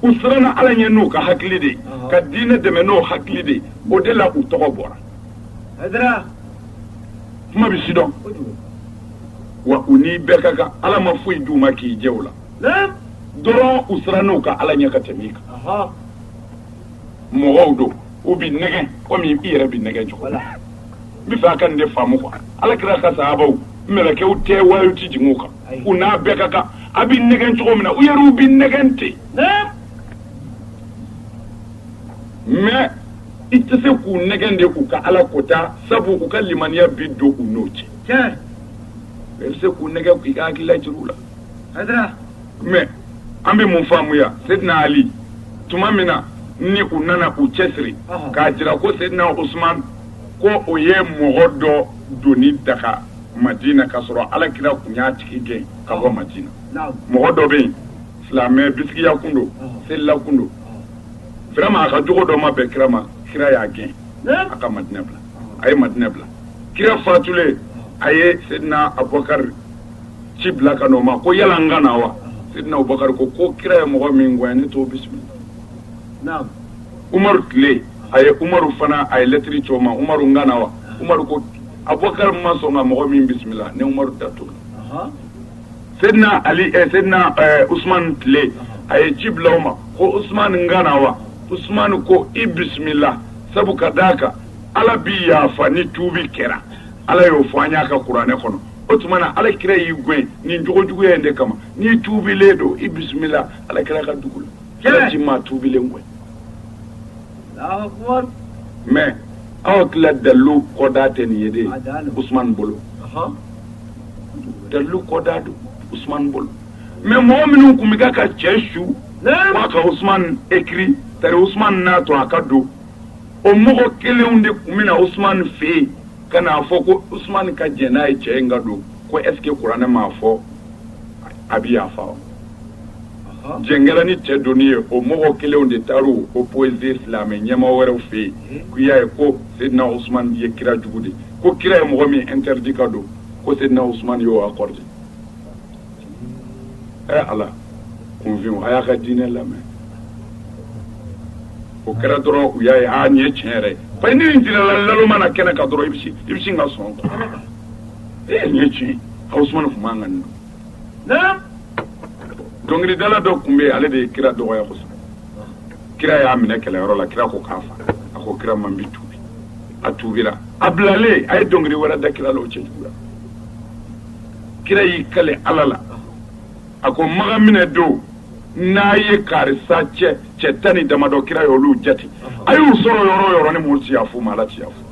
u siranna ala ɲɛ n'u ka hakili de ye ka diinɛ dɛmɛ n'o hakili de ye o de la u tɔgɔ bɔra kuma bɛ sidɔn wa u ni bɛɛ ka kan ala ma foyi d'u ma k'i jɛ o la dɔrɔn u siranna u ka ala ɲɛ ka tɛmɛ i kan mɔgɔw don u bɛ nɛgɛn komi i yɛrɛ bɛ nɛgɛn cogo la n bɛ fɛ a ka nin de faamu quoi ala kira ka sahabaw mɛlɛkɛw tɛ wayiw tɛ jigin u kan u n'a bɛɛ ka kan a bɛ nɛgɛn cogo min na u yɛrɛw bɛ nɛgɛn ten mais i tɛ se k'u nɛgɛn de k'u ka ala ko ta sabu u ka limaniya bi don u n'o cɛ i bɛ se k'u nɛgɛn k'i ka hakilila jira u la mais an bɛ mun faamuya seydina ali tuma min na ni u nana u cɛsiri k'a jira ko seydina usman ko o ye mɔgɔ dɔ donni daga madina k'a sɔrɔ ala kira tun y'a tigi gɛn ka bɔ madina mɔgɔ dɔ bɛ yen silamɛ bisigiya kun don selila kun don vraiment a ka jogo dɔ ma bɛn kira ma kira y'a gɛn a ka madina bila a ye madina bila kira fatulen a ye seydina abubakari ci bila ka n'o ma ko yala n ka na wa seydina abubakari ko ko kira ye mɔgɔ min gɛn ne t'o bisimila umaru tile a ye umaru fana a ye lɛtiri ci o ma umaru n ka na wa umaru ko abubakari ma sɔn ka mɔgɔ min bisimila ne umaru da t'o la seydina ali seydina usman tile a ye ci bila o ma ko usman n ka na wa usman ko i bisimila sabu ka d'a kan ala bi yafa ni tuubi kɛra ala y'o fɔ an y'a ka kuranɛ kɔnɔ o tuma na ala kira y'i gɛn nin jogo juguya in de kama n'i tuubilen don i bisimila ala kira ka dugu la ala ti maa tuubilen gɛn mais aw hakili la dalilu kɔda tɛ nin ye de usumani bolo dalilu kɔda don usumani bolo mais mɔgɔ minnu tun bɛ ka cɛ su k'a ka usumani écrit tari usumani n'a to a ka don o mɔgɔ kelenw de tun bɛ na usumani fɛ yen ka n'a fɔ ko usumani ka jɛn n'a ye cɛ in ka don ko est-ce que kuranɛ m'a fɔ a bɛ yafa wa jɛn kɛra ni cɛ donni ye o mɔgɔ kelenw de taara o poser silamɛ ɲɛmaa wɛrɛw fɛ yen k'u y'a ye ko seydina usman ye kira jugu de ko kira ye mɔgɔ min interdit ka don ko seydina usman y'o accordé ɛ ala kunfin a y'a ka diinɛ lamɛn o kɛra dɔrɔn u y'a ye a nin ye tiɲɛ yɛrɛ ye parce que ni nin jirala naloma na kɛnɛ kan dɔrɔn i bɛ i bɛ sin ka sɔn e nin ye tiɲɛ usman tun man kan nin dɔnkilidala dɔ tun bɛ ale de ye kira dɔgɔya kosɛbɛ kira y'a minɛ kɛlɛyɔrɔ la kira ko k'a fa a ko kira ma n bi tuubi a tuubira a bilalen a ye dɔnkili wɛrɛ da kira la o cɛjugu la kira y'i kali ala la a ko maka minɛ don n'a ye karisa cɛ tan ni damadɔ kira ye olu jate a y'u sɔrɔ yɔrɔ o yɔrɔ ni muru ti yafa u ma ala ti yafa u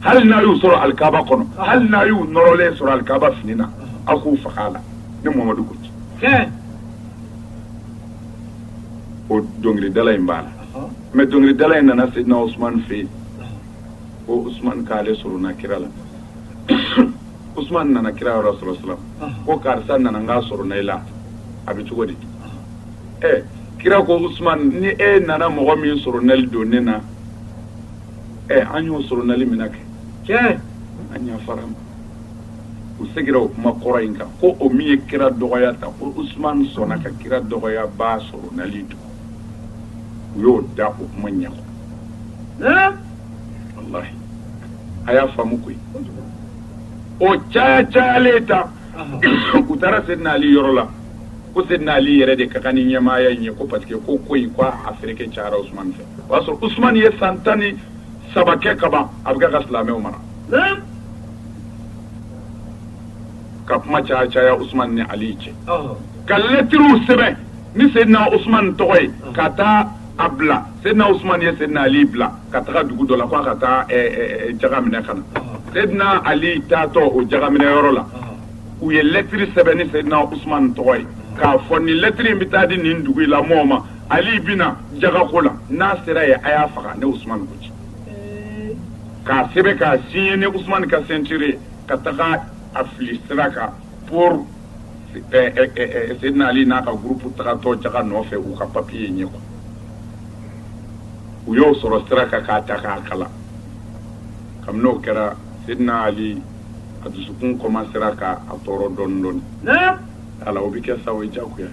hali n'a y'u sɔrɔ alikaba kɔnɔ hali n'a y'u nɔrɔlen sɔrɔ alikaba fini na aw k'u faga a la ne muhamadu ko ci o dɔnkilidala in b'a la mais dɔnkilidala in nana seyidina usman fɛ yen ko usman k'ale sorona kira la usman nana kira yɔrɔ sɔrɔ sira ko karisa nana n k'a sorona i la a bɛ cogo di ɛ kira ko usman ni e nana mɔgɔ min soronali don ne na an y'o soronali minɛ kɛ an yafara a ma u segira o kuma kɔrɔ in kan ko o min ye kira dɔgɔya ta ko usman sɔnna ka kira dɔgɔyabaa soronali don u y'o da o kuma ɲɛ ko wallahi a y'a faamu koyi o caya cayalen ta u taara seyidina ali yɔrɔ la ko seyidina ali yɛrɛ de ka kan ni ɲɛmaaya in ye ko parce que ko ko in ko a feereke cayara usumani fɛ o y'a sɔrɔ usman ye san tan ni saba kɛ kaban a bɛ ka silamɛw mara ka kuma caya caya usman ni ali cɛ ka lɛtiriw sɛbɛn ni seyidina usman tɔgɔ ye ka taa a bila seyidina usman ye seyidina ali bila ka taga dugu dɔ la k'a ka taa jaga minɛ ka na seyidina ali taatɔ o jaga minɛ yɔrɔ la u ye lɛtiri sɛbɛn ni seyidina usman tɔgɔ ye k'a fɔ nin lɛtiri in bɛ taa di nin dugu in la mɔɔw ma ali bɛna jagako la n'a sera yen a y'a faga ne usumani ko ci k'a sɛbɛn k'a signé ni usumani ka signature ka taga a fili sira kan pour seyidina ali n'a ka groupe tagatɔ jaga nɔfɛ u ka papiye ye yen quoi u y'o sɔrɔ sira kan k'a ta k'a kalan kabini o kɛra seyidina ali a dusukun kɔmansera k'a tɔɔrɔ dɔɔnin dɔɔnin ala o bɛ kɛ sa o ye jagoya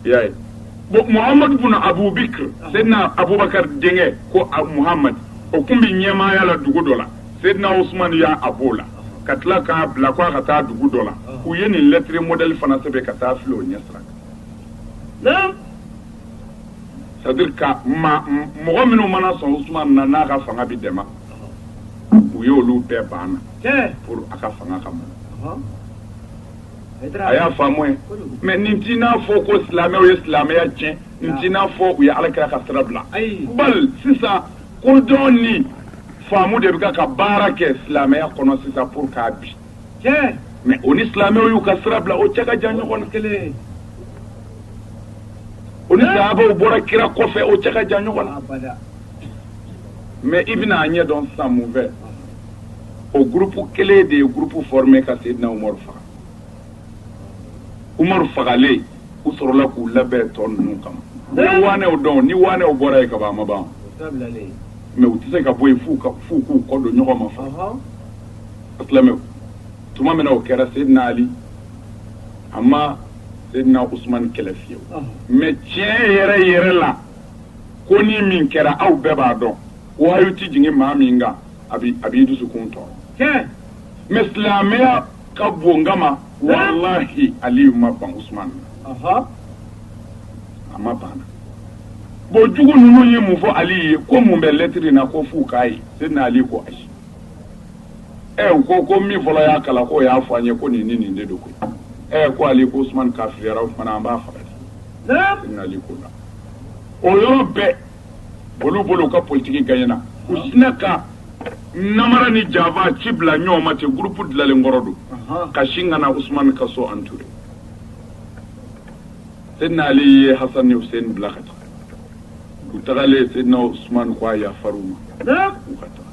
i y'a ye bon muhamadu bun abubakar seyidina abubakar denkɛ ko muhamadu o tun bɛ ɲɛmaaya la dugu dɔ la seyidina usumani y'a bɔ o la ka tila k'a bila k'a ka taa dugu dɔ la u ye nin lɛtiri mɔdɛli fana sɛbɛn ka taa fili o ɲɛsira kan c'est à dire que mɔgɔ minnu mana sɔn usumani na n'a ka fanga bɛ dɛmɛ u y'olu bɛɛ banna pour a ka fanga ka mɔn a y'a faamu ye mais n tɛn'a fɔ ko silamɛw ye silamɛya tiɲɛ n tɛn'a fɔ u ye ala kira ka sira bila bal sisan kodɔn ni faamu de bɛ ka baara kɛ silamɛya kɔnɔ sisan pour k'a bin mais o ni silamɛw y'u ka sira bila o cɛ ka jan ɲɔgɔn na kelen o ni sahabaw bɔra kira kɔfɛ o cɛ ka jan ɲɔgɔn na mais i bɛna a ɲɛ dɔn sisan mun fɛ o groupe kelen de ye groupe formé ka seyidina umaru faga umaru fagalen u sɔrɔla k'u labɛn tɔ ninnu kama ni waanɛw don ni waanɛw bɔra yen ka ban a ma ban mais u tɛ se ka bɔ yen f'u k'u kɔ don ɲɔgɔn ma fa silamɛw tuma min na o kɛra seyidina ali a ma seyidina usumani kɛlɛ fiyewu mais tiɲɛ yɛrɛ yɛrɛ la ko ni min kɛra aw bɛɛ b'a dɔn wahayu tɛ jigin maa min kan a b'i dusukun tɔɔrɔ mais silamɛya ka bon n kama walahi aliyu ma ban usman na ɔhɔ a ma ban na bon jugu ninnu ye mun fɔ ali ye ko mun bɛ lɛtiri in na ko f'u k'a ye seyidina ali ko ayi ɛ u ko ko min fɔlɔ y'a kalan k'o y'a fɔ an ye ko nin ni nin de don koyi ɛ ko ali ko usman kafiriyara o tuma na an b'a faga de seyidina ali ko la o yɔrɔ bɛɛ olu bolo ka politigi gay na u hinɛ ka nara ni janfa ci bila ɲɔgɔn ma cɛ gp dilanlen kɔrɔ don ka sin ka na usman ka so an tuuru se n'ale ye ha ni sen bila ka taa u tagalen se n' o suman ko a yafafaw ma u ka taa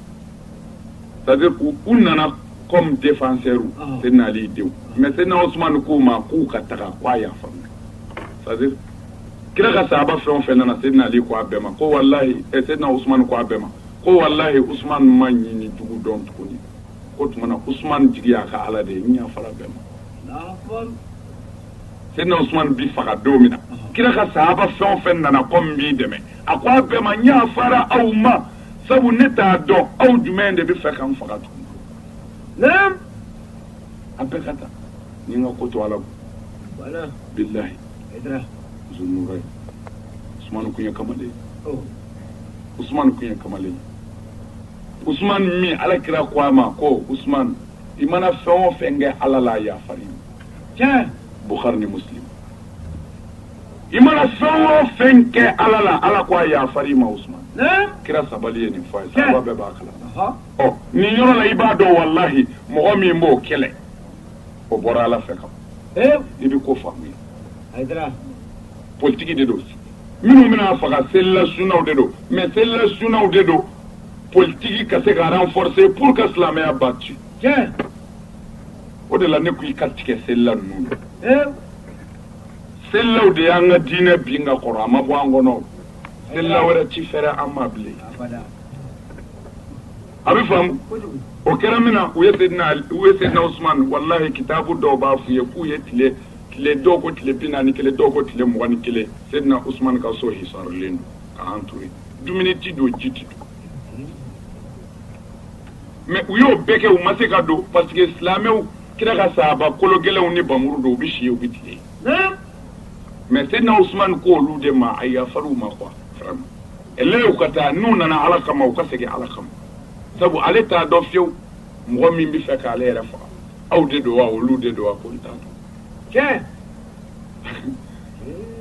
sabu u u nana kɔn defasɛri se n'ale denw mɛ se n'aw suman k'u ma k'u ka taga k' a yafa faamu kira ka sahaba fɛn o fɛn nana Seydina Ali ko a bɛɛ ma ko walahi ɛ eh, Seydina Usumani ko a bɛɛ ma ko walahi Usumani ma ɲin ni jugu dɔn tuguni k'o tuma na Usumani jigi y'a ka Ala de ye n yafara bɛɛ ma Seydina Usumani bi faga don min na kira ka sahaba fɛn o fɛn nana ko n b'i dɛmɛ a ko a bɛɛ ma n yafara aw ma sabu ne t'a dɔn aw jumɛn de bɛ fɛ ka n faga tuguni a bɛɛ ka taa ni n ka ko to Ala bolo bilahi kamalen ala kira ko a ma ko i mana fɛn o fɛn kɛ ala la yafa i mana fɛn o fɛn kɛ ala la ala ko a yafa i ma kira sabali ye nin fa ye saba bɛɛ b'a kala nin yɔrɔ la i b'a dɔn walahi mɔgɔ min b'o kɛlɛ o bɔra ala fɛ kan i bɛ ko faamu ye politique de don minnu bɛna faga selila sunnaw de don mais selila sunnaw de don politique ka se ka renforcer pour que silamɛya ba ci o de la ne ko i ka tigɛ selila ninnu na selilaw de y'an ka diinɛ bin ka kɔrɔ a ma bɔ an kɔnɔ selila wɛrɛ ti fɛrɛ an ma bilen a bɛ faamu o kɛra min na u ye sen u ye Seydina Usman walahi kitabu dɔw b'a f'u ye k'u ye tile tile dɔw ko tile bi naani ni kelen dɔw ko tile mugan ni kelen Seydina Usman ka so hisarlen don k'a entourer dumuni tɛ don ji tɛ don mais u y'o bɛɛ kɛ u ma se ka don parce que silamɛw kira ka sahaba kolo gɛlɛnw ni npanmuru don u bɛ si u bɛ tile mais Seydina Usman ko olu de ma a yafar'u ma quoi Ɛlɛɛw ka taa n'u nana Ala kama u ka segin Ala kama sabu ale t'a dɔn fiyewu mɔgɔ min bɛ fɛ k'ale yɛrɛ faga aw de don wa olu de don wa ko n t'a dɔn tiɲɛ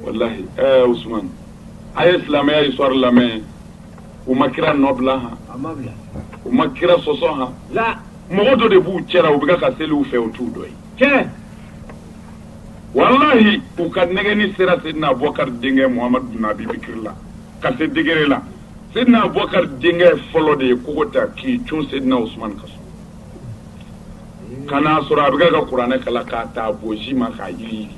walahi ɛɛ Usumani a ye silamɛya histoire lamɛn u ma kira nɔbila han a ma bila u ma kira sɔsɔ han la mɔgɔ dɔ de b'u cɛla u bɛ ka seli u fɛ u t'u dɔ ye tiɲɛ walahi u ka nɛgɛni sera Seydina Abubakari denkɛ Muhamadu bun Abi Bakri la ka se degré la Seydina Abubakari denkɛ fɔlɔ de ye kogo ta k'i cun Seydina Usman ka so ka na sɔrɔ a bɛ ka kuranɛ kala k'a ta bonsi ma k'a yiriyiri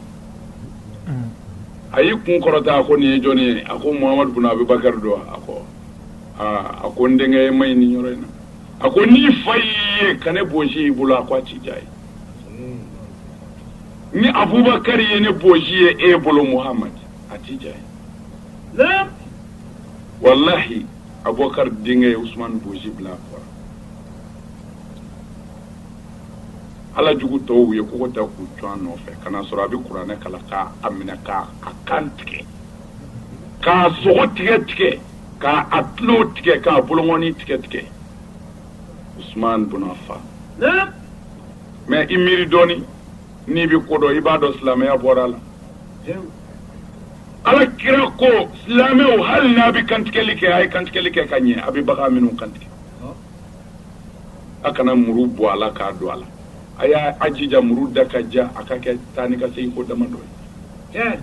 a y'i kun kɔrɔta a ko nin ye jɔnni ye a ko Muhamadu bun Abubakari don a ko aaa a ko n denkɛ ma ɲini yɔrɔ in na a ko n'i fa y'i ye ka ne bonsi y'i bolo a ko a ti diya ye ni abubakari ye ne bonsi ye e bolo muhamadu a tɛ diya ye walahi abubakari denkɛ ye usumani bonsi bila a kɔrɔ ala jugu tɔw ye kogo ta k'u cun a nɔfɛ ka na sɔrɔ a bɛ kuranɛ kala k'a a minɛ k'a a kan tigɛ k'a sogo tigɛ tigɛ k'a a tulo tigɛ k'a bolongɔni tigɛ tigɛ usman bun affan naam mais i miiri dɔɔni n'i bɛ ko dɔn i b'a dɔn silamɛya bɔra a la jaw ala kira ko silamɛw hali n'a bɛ kantigɛli kɛ a ye kantigɛli kɛ ka ɲɛ a bɛ bagan minnu kantigɛ a kana muru bɔ a la k'a don a la a y'a a jija muru da ka diya a ka kɛ taa ni ka segin ko damadɔ ye tiɲɛ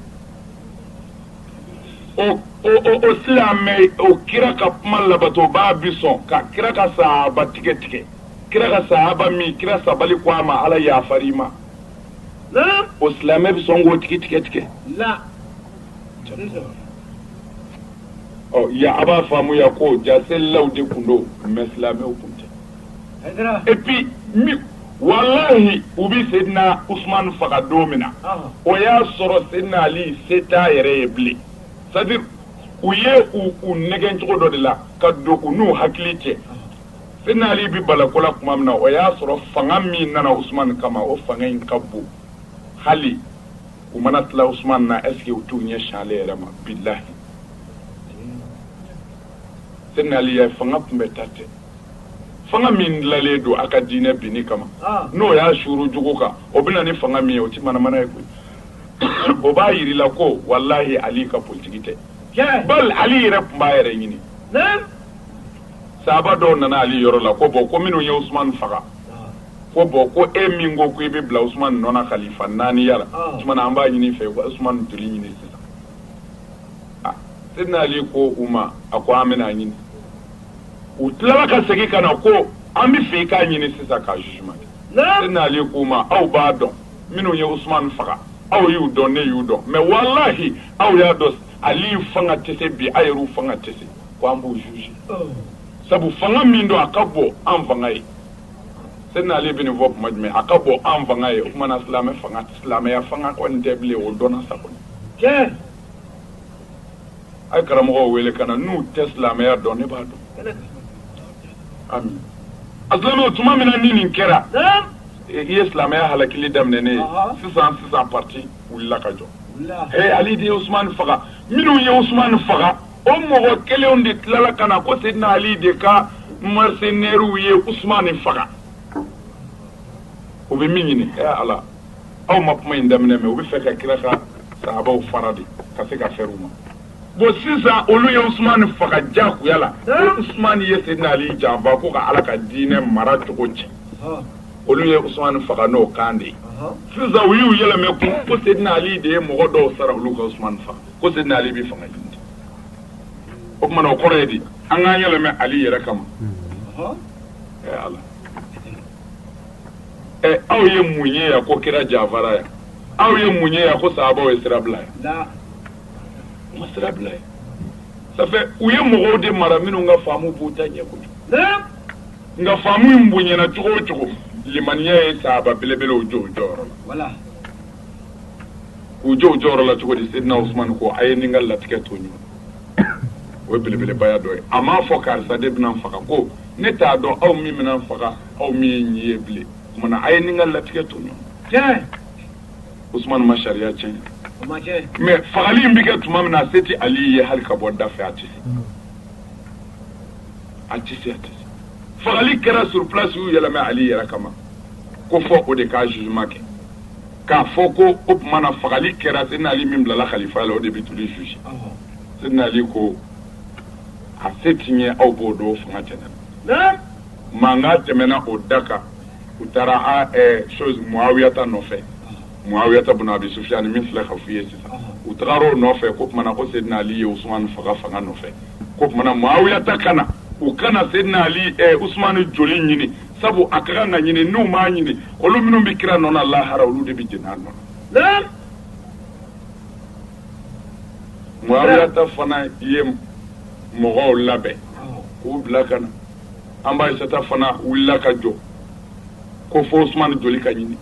o silamɛ o kira ka kuma labatobaa bi sɔn ka kira ka sahaba tigɛ tigɛ kira ka sahaba min kira sabali ko a ma ala yafar'i ma o silamɛ bɛ sɔn k'o tigi tigɛ tigɛ ya a b'a faamuya ko jaa selilaw de tun don mais silamɛw tun tɛ et puis walahi u bɛ Seyidina Usumani faga don min na, ɔnhɔn, o y'a sɔrɔ Seyidina Ali se t'a yɛrɛ ye bilen c'est à dire u ye u u nɛgɛn cogo dɔ de la ka don u n'u hakili cɛ, Seyidina Ali bɛ bala ko la tuma min na, o y'a sɔrɔ fanga min nana Usumani kama, o fanga in ka bon hali u mana tila Usumani na est ce que u t'u ɲɛsin ale yɛrɛ ma bilahi, Seyidina Ali fanga tun bɛ ta ten fanga min dilanlen don a ka diinɛ binni kama ah. n'o y'a suuru jugu kan o bɛ na ni fanga min ye o tɛ manamana ye koyi o b'a jira i la ko walahi ali ka politiki tɛ bal ali yɛrɛ tun b'a yɛrɛ ɲini sahaba dɔw nana ali yɔrɔ la ko bon ko minnu ye usumani faga ah. ko bon ko e min ko ko i bɛ bila usumani nɔ na kalifa naaniya la ah. o tuma na an b'a ɲini i fɛ usumani joli ɲini sisan sedina ali ko u ma a ko an bɛna a ɲini u tilala ka segin ka na ko an b'a fɛ i k'a ɲini sisan ka jugement kɛ sedina ali ko u ma aw b'a dɔn minnu ye usumani faga aw y'u dɔn ne y'u dɔn mais walahi aw y'a dɔn ali fanga tɛ se bi aw yɛrɛ fanga tɛ se ko an b'u juger oh. sabu fanga min don a ka bon an fanga ye sedina ali bɛ nin fɔ tuma jumɛn a ka bon an fanga ye o tuma na silamɛ fanga silamɛya fanga kɔni tɛ bilen o dɔnna sa kɔni a ye karamɔgɔw wele ka na n'u tɛ silamɛya dɔn ne b'a dɔn a don tuma min na ni nin kɛra i ye silamɛya halakili daminɛ ne ye sisan sisan pati wulila ka jɔ ali de ye usumani faga minnu ye usumani faga o mɔgɔ kelenw de tilala ka na ko sedina ali de ka mercenaires ye usumani faga u bɛ min ɲini ala aw ma kuma in daminɛ mɛ u b'a fɛ ka kira ka sahabaw fara de ka se ka fɛrɛ u ma bon sisan olu ye usumani faga jagoya la usumani ye sedina ali janfa ko ka ala ka diinɛ mara cogo cɛn olu ye usumani faga n'o kan de ye sisan u y'u yɛlɛmɛ kun ko sedina ali de ye mɔgɔ dɔw sara olu ka usumani faga ko sedina ali bɛ fanga ɲini o tuma na o kɔrɔ ye di an k'an yɛlɛmɛ ali yɛrɛ kama ala aw ye mun ye yan ko kira janfara yan aw ye mun ye yan ko sahabaw ye sira bila yan u ma sira bila yan ça fait u ye mɔgɔw de mara minnu ka faamu b'u ta ɲɛ kojugu nka faamu in bonyana cogo o cogo limaniya ye sahaba belebelew jɔ u jɔyɔrɔ la k'u jɔ u jɔyɔrɔ la cogo di sedina usumani ko a ye n ni n ka latigɛ to ɲɔgɔn o ye belebelebaya dɔ ye a m'a fɔ karisa de bɛna n faga ko ne t'a dɔn aw min bɛna n faga aw min ye nin ye bilen o tuma na a ye nin ka latigɛ to ɲɔgɔn usumani ma sariya tiɲɛ mais fagali in bɛ kɛ tuma min na a se tɛ ali ye hali ka bɔ da fɛ a tɛ se a tɛ se a tɛ se fagali kɛra sur place u y'u yɛlɛmɛ ali yɛrɛ kama ko fo o de k'a jugement kɛ k'a fɔ ko o tuma na fagali kɛra sɛdina ali min bilala kalifa la o de bɛ t'olu juger sɛdina ali ko a se tɛ n ye aw b'o dɔn o fanga tɛ n na mankan tɛmɛna o da kan u taara chose mɔawiyata nɔfɛ mɔawiyata bun abi sufyan min filɛ ka f'u ye sisan u taara o nɔfɛ ko o tuma na ko sedina ali ye usumani faga fanga nɔfɛ ko o tuma na mɔawiyata ka na u ka na sedina ali usumani joli ɲini sabu a ka kan ka ɲini n'u m'a ɲini olu minnu bɛ kira nɔ na lahara olu de bɛ jeni a nɔ na mɔawiyata fana ye mɔgɔw labɛn k'u bila ka na an ba aisata fana wulila ka jɔ ko fo usumani joli ka ɲini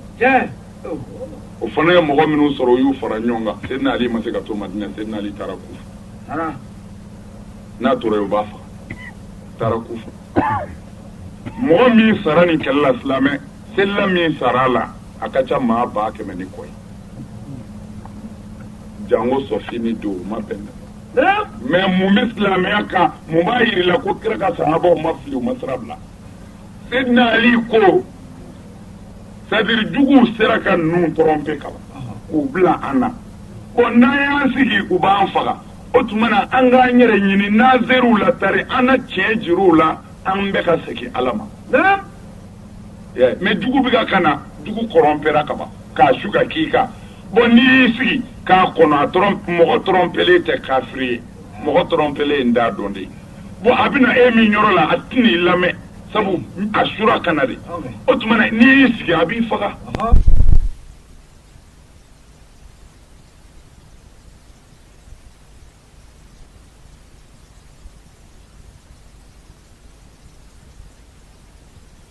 o fana ye mɔgɔ minnu sɔrɔ o y'u fara ɲɔgɔn kan sedina ali ma se ka to madina sedina ali taara kufa n'a tora yen u b'a faga taara kufa mɔgɔ min sara nin kɛlɛ la silamɛ selila min sara a la a ka ca maa ba kɛmɛ ni kɔ ye jango sɔfini don o ma bɛn mais mun bɛ silamɛya kan mun b'a yir'i la ko kira ka sahabaw ma fili u ma sira bila sedina ali ko c'est-à-dire juguw sera ka ninnu tromper kaban k'u bila an na bon n'an y'an sigi u b'an faga o tuma na an k'an yɛrɛ ɲini n'an ser'u la tari an na tiɲɛ jir'u la an bɛɛ ka segin ala ma mais jugu bɛ ka ka na jugu trompera kaban k'a su ka k'i kan Bon n'i y'i sigi k'a kɔnɔ a mɔgɔ trompelen tɛ kafiri ye mɔgɔ trompelen ye n t'a dɔn dɛ bon a bɛna e min yɔrɔ la a tɛn'i lamɛn sabu a sura ka na de o tuma na n'i y'i sigi a b'i faga